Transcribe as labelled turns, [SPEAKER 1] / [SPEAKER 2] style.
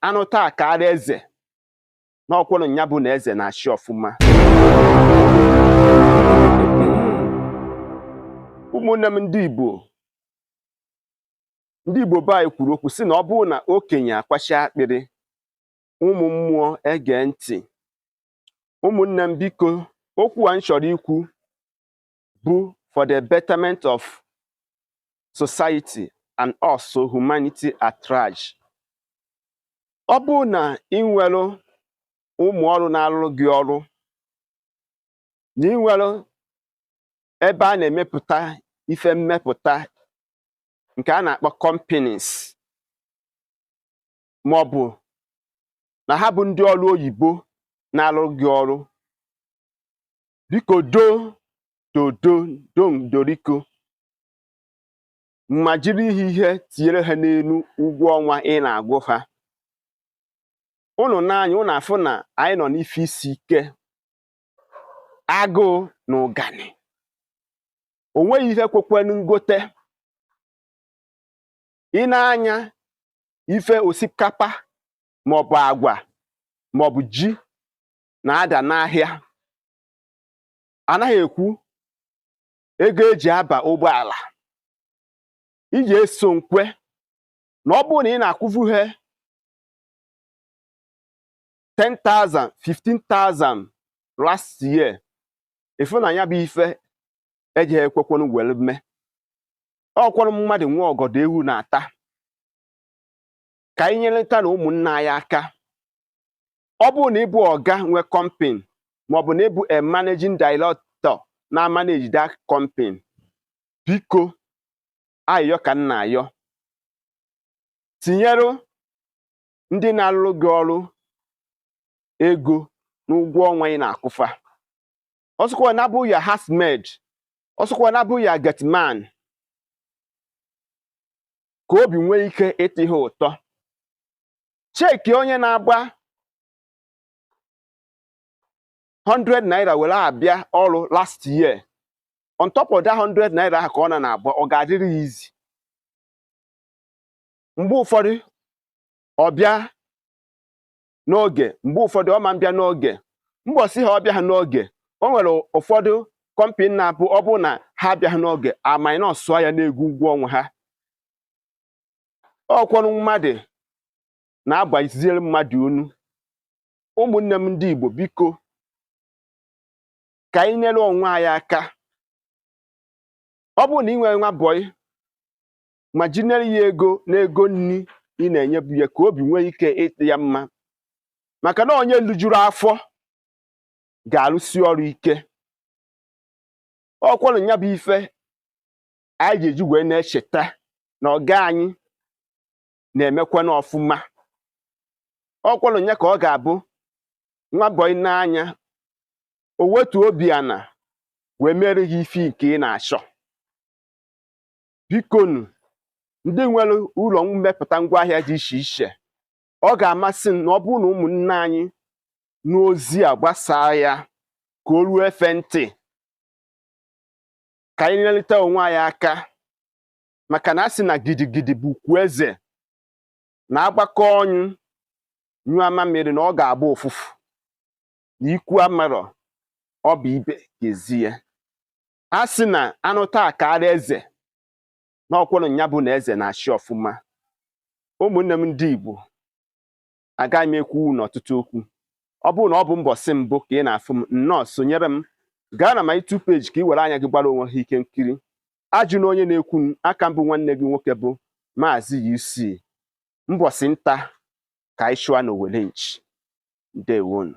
[SPEAKER 1] anụta akaara eze n'ọkwụrụ nya bụ na eze na-achị ọfụma ụmụnne m ndị Igbo ndị Igbo be anyị kwuru okwu sị na ọ bụrụ na okenye akwachi akpịrị ụmụ mmụọ ege ntị ụmụnne m biko okwu a m chọrọ ikwu bụ for the betterment of society and also humanity at large. Ọ bụrụ na ị nwere ụmụ ọrụ na-arụrụ gị ọrụ na ị nwere ebe a na-emepụta ife mmepụta nke a na-akpọ companies ma ọ bụ na ha bụ ndị ọrụ oyibo na-arụrụ gị ọrụ biko do dodo dom doriko ma jiri ihe ihe tinyere ha n'elu ụgwọ ọnwa ị na-akwụ ha unu nee anya unu afụ na anyị nọ n'ife isi ike agụụ na ụganị o nweghị ihe kwekwenu ngote i nee anya ife osikapa maọbụ agwa maọbụ ji na-ada n'ahịa anaghị ekwu ego eji aba ụgbọala ị je eso m kwe na ọ bụrụ na ị na-akwụvu ha 10,000 15,000 last year ị fụ na ya bụ ife eji ekwekwanụ were mee ọkwanụ mmadụ nwe ọgọdọ ewu na-ata ka anyị nyerịta na ụmụnna anyị aka ọ bụrụ na ịbụ ọga nwe company maọbụ na ịbụ a managing director na-amanage that company biko ayịyọ ka m na-ayọ tinyere ndị na-arụrụ gị ọrụ ego n'ụgwọ ọnwa ị na-akwụfa ọsụkwa na abụ ya housemaid ọsụkwa na abụ ya gateman ka obi nwee ike ịdị ha ụtọ cheki onye na-agba 100 naira were abịa ọrụ last year on top of that 100 naira ahụ ka ọ na na-agba ọ ga-adịrị ya easy mgbe ụfọdụ ọ bịa n'oge mgbe ụfọdụ ọ ma mbịa n'oge mbọsị ha ọ bịaghị n'oge o nwere ụfọdụ company na-abụ ọ bụrụ na ha abịaghị n'oge a minusuo ya n'ego ụgwọ ọnwa ha ọkwọrụ mmadụ na-agbaziere mmadụ unu ụmụnne m ndị Igbo biko ka anyị nyere onwe anyị aka ọ bụrụ na ị nwere nwa bọyị ma jinyere ya ego n'ego nri ị na-enyebu ya ka obi nwee ike ịdị ya mma maka na onye lijuru afọ ga-arụsi ọrụ ike ọkwanụ ya bụ ife anyị ji eji wee na-echeta na ọga anyị na-emekwanụ ọfụma ọkwanụ ya ka ọ ga-abụ nwa bọị nee anya o wetu obi ana wee mere gị ife nke ị na-achọ bikonu ndị nwere ụlọ mmepụta ngwaahịa dị iche iche ọ ga-amasị m na ọ bụrụ na ụmụnne anyị nụ ozi a gbasaa ya ka o ruo efe ntị ka anyị nyerịta onwe anyị aka maka na a sị na gidigidi bụ ugwu eze na a gbakọọ ọnụ nyụọ amamịrị na ọ ga-agba ụfụfụ na ikwu amarọ ọ bụ ibe ga-ezi ya a sị na a nụta a kaara eze na ọkwanụ nya bụ na eze na-achị ọfụma ụmụnne m ndị Igbo agaghị m ekwu n'ọtụtụ okwu ọ bụrụ na ọ bụ mbọsị mbụ ka ị na-afụ m nnọọ sonyere m gaa na my YouTube page ka ị were anya gị gbara onwe ha ife nkiri ajụna onye na-ekwu maka m bụ nwanne gị nwoke bụ maazị UC mbọsị nta ka anyị chụọ n'owere nchi ndewonu